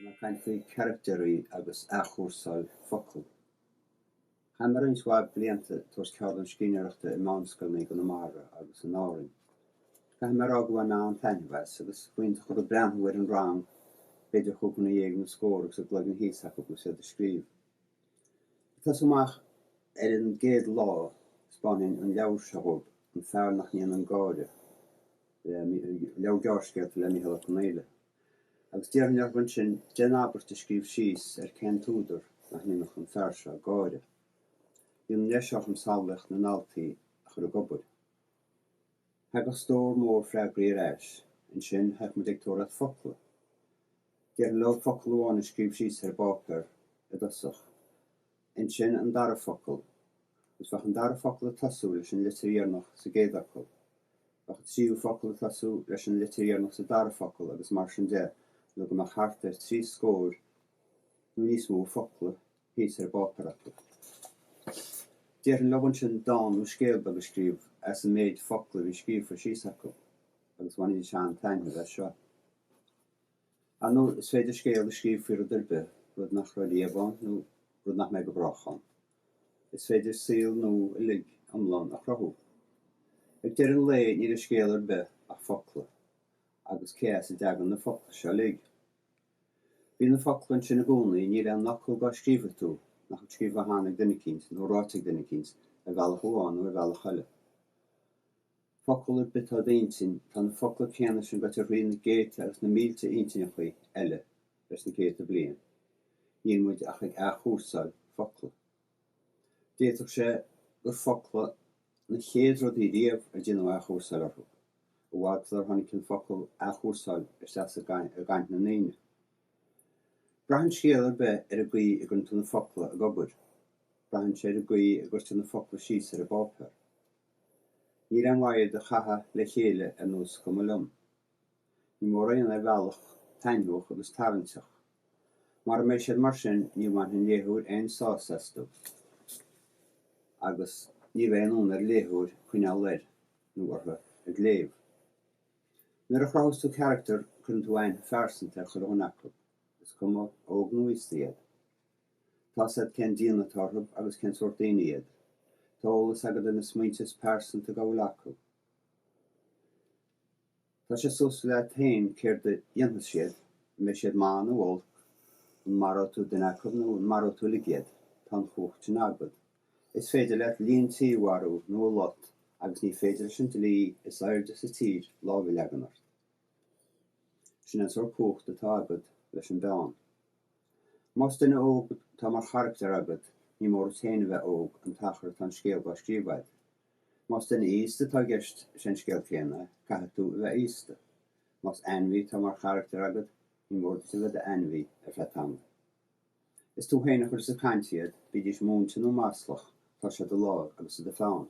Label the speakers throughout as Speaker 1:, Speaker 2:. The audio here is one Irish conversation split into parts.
Speaker 1: Ina chaint faoi charachtairí agus athchúrsáil focal, chaith mé roinnt mhaith blianta ag tabhairt ceardlann scríbhneoireachta i meánscoileanna i gConamara agus in Árainn. Caithfidh mé a rá go bhain mé an-taitneamh as, agus b'iontach an rud breathnú ar an rang, b'fhéidir cúig dhuine dhéag nó scór, agus a gcloigeann thíos acu agus iad ag scríobh. Ag tosú amach ar an gcéad lá, 'speánfainn an leabhar seo dhób, An Fear nach nDéanann Gáire. leabhar gearrscéalta le Micheál Ó Conghaile, agus d'iarrfainn orthu ansin, déan abairt a scríobh síos ar cén t-údar nach ndéanfadh an fear seo gáire. Bíonn an deis agam samhlaíocht na ndaltaí a chur ag obair. Thagadh stór mór freagraí ar ais. Ansin, théadh muid ag tóraíocht focla. Déarfainn leo focal amháin a scríobh síos ar an bpáipéar i dtosach. ansin an dara focal, agus bheadh an dara focal ag tosú leis an litir dheireanach sa gcéad fhocal. Bheadh an tríú focal ag tosú leis an litir dheireanach sa dara focal agus mar sin de nó go mbeadh thart ar trí scóir nó níos mó focla thíos ar an bpáipéar acu. Déarfainn leo ansin dán nó scéal beag a scríobh as an méid focla a bhí scríofa síos acu agus bhainfidís an-taitneamh as seo. Ar ndóigh, is féidir scéal a scríobh faoi rud ar bith, rud nach raibh riamh ann nó rud nach mbeidh go brách ann. Is féidir saol nua uilig iomlán a chruthú. Ag deireadh an lae, níl i scéal ar bith ach focla. Agus cé as a dtagann na focla seo uilig? Bíonn na focla ansin i gcónaí, níl aon fhocal dá scríobhfaidh tú nach bhfuil scríofa cheana ag duine eicínt, nó ráite ag duine eicínt, ar bhealach amháin nó ar bhealach eile. focal ar bith atá i d'intinn, tá na focla céanna sin gaibhte thrí na céadta agus na mílte intinneachaí eile leis na céadta bliain. Níl muid ach ag athchúrsáil focla. D'fhéadfadh sé gur focla na chéad rudaí riamh ar déanadh athchúrsáil orthu, i bhfad sular tháinig an focal 'athchúrsáil' isteach i gcaint na ndaoine. Braitheann scéal ar bith ar an gcaoi a gcuireann tú na focla ag obair. Braitheann sé ar an gcaoi a gcuirtear na focla síos ar an bpáipéar. Níl aon mhaith iad a chaitheamh le chéile ar nós cuma liom. Ní mór aon ar bhealach taitneamhach agus tarraingteach. Mara mbeidh siad mar sin, ní bhainfidh an léitheoir aon sásamh astu, agus ní bheidh aon fhonn ar an léitheoir coinneáil air nó uirthi ag léamh. Nuair a chruthaíos tú carachtar, cuireann tú aithne phearsanta ar chuile dhuine acu, is cuma óg nó aosta iad. Tá 's a'd cén déanamh atá orthu agus cén sórt daoine iad. Tá eolas agad ar na smaointe is pearsanta dá bhfuil acu. Tá sé suas leat féin céard a dhéanfas siad, an mbeidh siad maith nó olc, an maróidh tú duine acu nó an maróidh tú uilig iad. Tá an chumhacht sin agad. Is féidir leat líon tí a mharú nó a lot agus ní féidir leis an dlí is aoirde sa tír lámh a leagan ort. Sin an sórt cumhachta atá agad leis an bpeann. Más duine óg atá mar charachtar agat, ní mór duit féin a bheith óg an t-achar atá an scéal dá scríobh agat. Más duine aosta atá i gceist, is é an scéal céanna, caithfidh tú a bheith aosta. Más ainmhí atá mar charachtar agat, ní mór duit a bheith i d'ainmhí ar feadh tamaill. Is tú féin a chuireas ag caint iad, bídís múinte nó maslach, tá sé i do láimh agus i do pheann.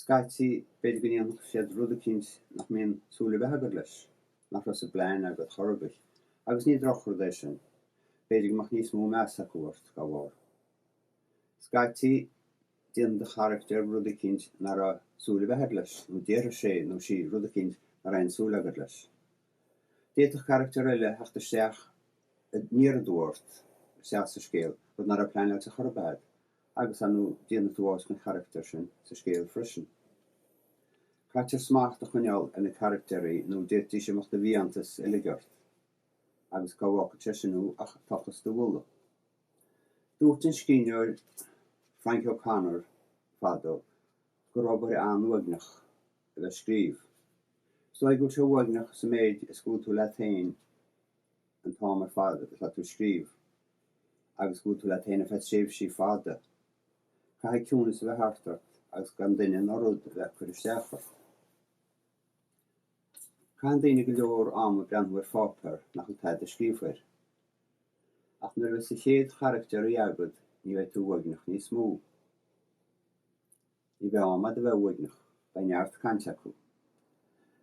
Speaker 1: Scaití, b'fhéidir go ndéanfadh siad rud eicínt nach mbíonn súil ar bith agat leis, nach raibh sa bplean agat chor ar bith, agus ní drochrud é sin. B'fhéidir go mbeadh níos mó meas acu ort dá bharr. Scaití, déanann do charachtar rud eicínt ná raibh súil ar bith agat leis, nó déarfaidh sé nó sí rud eicínt ná raibh aon súil agat leis. D'fhéadfadh carachtar eile a theacht isteach aniar aduaidh ort, isteach sa scéal, rud ná raibh pleanáilte chor ar bith agat. Agus an ndéanfaidh tú áit don charachtar sin sa scéal freisin? Caithfear smacht a choinneáil ar na carachtairí nó d'fhéadfaidís imeacht i bhfiántas uilig ort. Agus cá bhfágfaidh sé sin thú ach ag tochas do mhullaigh. Dúirt an scríbhneoir Frank O'Connor fadó gur obair an-uaigneach a bheith ag scríobh. Is dóigh go bhfuil sé uaigneach sa méid is go bhfuil tú leat féin an t-am ar fad atá tú ag scríobh. agus go bhfuil tú leat féin ar feadh tréimhsí fada. Caithfidh ciúnas a bheith thart ort agus gan duine ná rud a bheith ag cur isteach ort. Caitheann daoine go leor ama ag breathnú ar pháipéar nach bhfuil tada scríofa air. Ach nuair a bheas do chéad charachtar agat ní bheidh tú uaigneach níos mó. Ní bheidh am agat a bheith uaigneach, beidh neart cainte acu.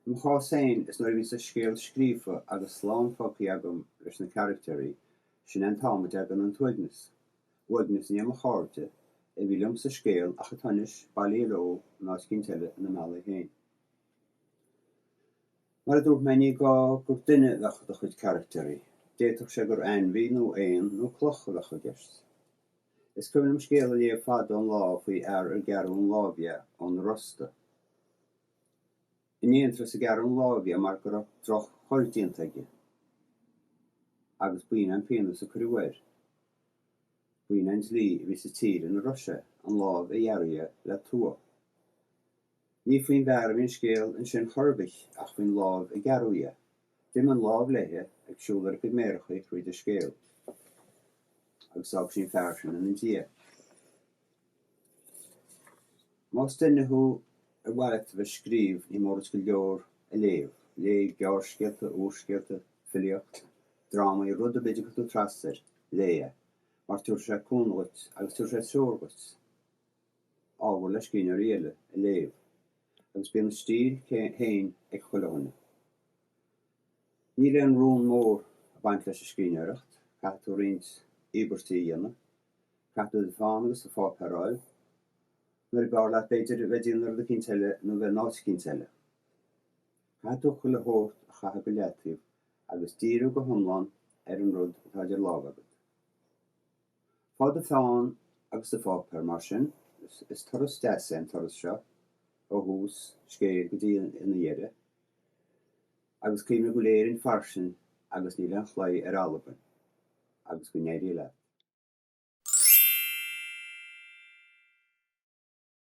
Speaker 1: I mo chás féin, is nuair a bhíos an scéal scríofa agus slán fágtha agam leis na carachtairí, sin é an t-am a dtagann an t-uaigneas. Uaigneas i ndiaidh mo chairde a bhí liom sa scéal ach atá anois bailithe leo in áit eicínt eile ina mbealaigh féin. Mar a dúirt mé, ní gá gur duine a bheadh i do chuid carachtairí. D'fhéadfadh sé gur ainmhí nó éan nó cloch a bheadh i gceist. Is cuimhin liom scéal a léamh fada an lá faoi fhear ar gearradh an láimh de ón rosta. In aon turas a gearradh an láimh de mar go raibh droch-choir déanta aige agus b'in é an pionós a cuireadh air. B'in é an dlí a bhí sa tír ina raibh sé, an lámh a ghearradh de le tua. Ní faoin bhfear a bhí an scéal ansin chor ar bith ach faoin láimh a gearradh dhe. D'imigh an lámh léithe ag siúl ar a cuid méarachaí thríd an scéal agus d'fhág sí an fear sin ina diaidh. Más duine thú ar mhaith leat a bheith ag scríobh ní mór duit go leor a léamh. Léigh gearrscéalta, úrscéalta, filíocht, drámaí, rud ar bith a dtiocfaidh tú trasna air, léigh é, mar tabharfaidh sé cúnamh dhuit agus tabharfaidh sé treoir dhuit. ábhar le scríbhneoirí eile a léamh agus bíonn a stíl féin ag chuile dhuine. Níl aon rún mór ag baint leis an scríbhneoireacht, caithfidh tú roinnt íobairtí a dhéanamh, caithfidh tú do pheann agus do pháipéar a fháil, nuair ab fhearr leat b'fhéidir bheith ag déanamh rud eicínt eile nó bheith in áit eicínt eile. Caithfidh tú chuile shórt a chaitheamh go leataobh agus díriú go hiomlán ar an rud atá idir lámha agat. Faigh do pheann agus do pháipéar, mar sin, is turas deas é an turas seo ó thús scéil go dtína dheireadh, agus cuimhnigh go bhfuil Éirinn fairsing agus níl aon chlaí ar Albain, agus go n-éirí leat.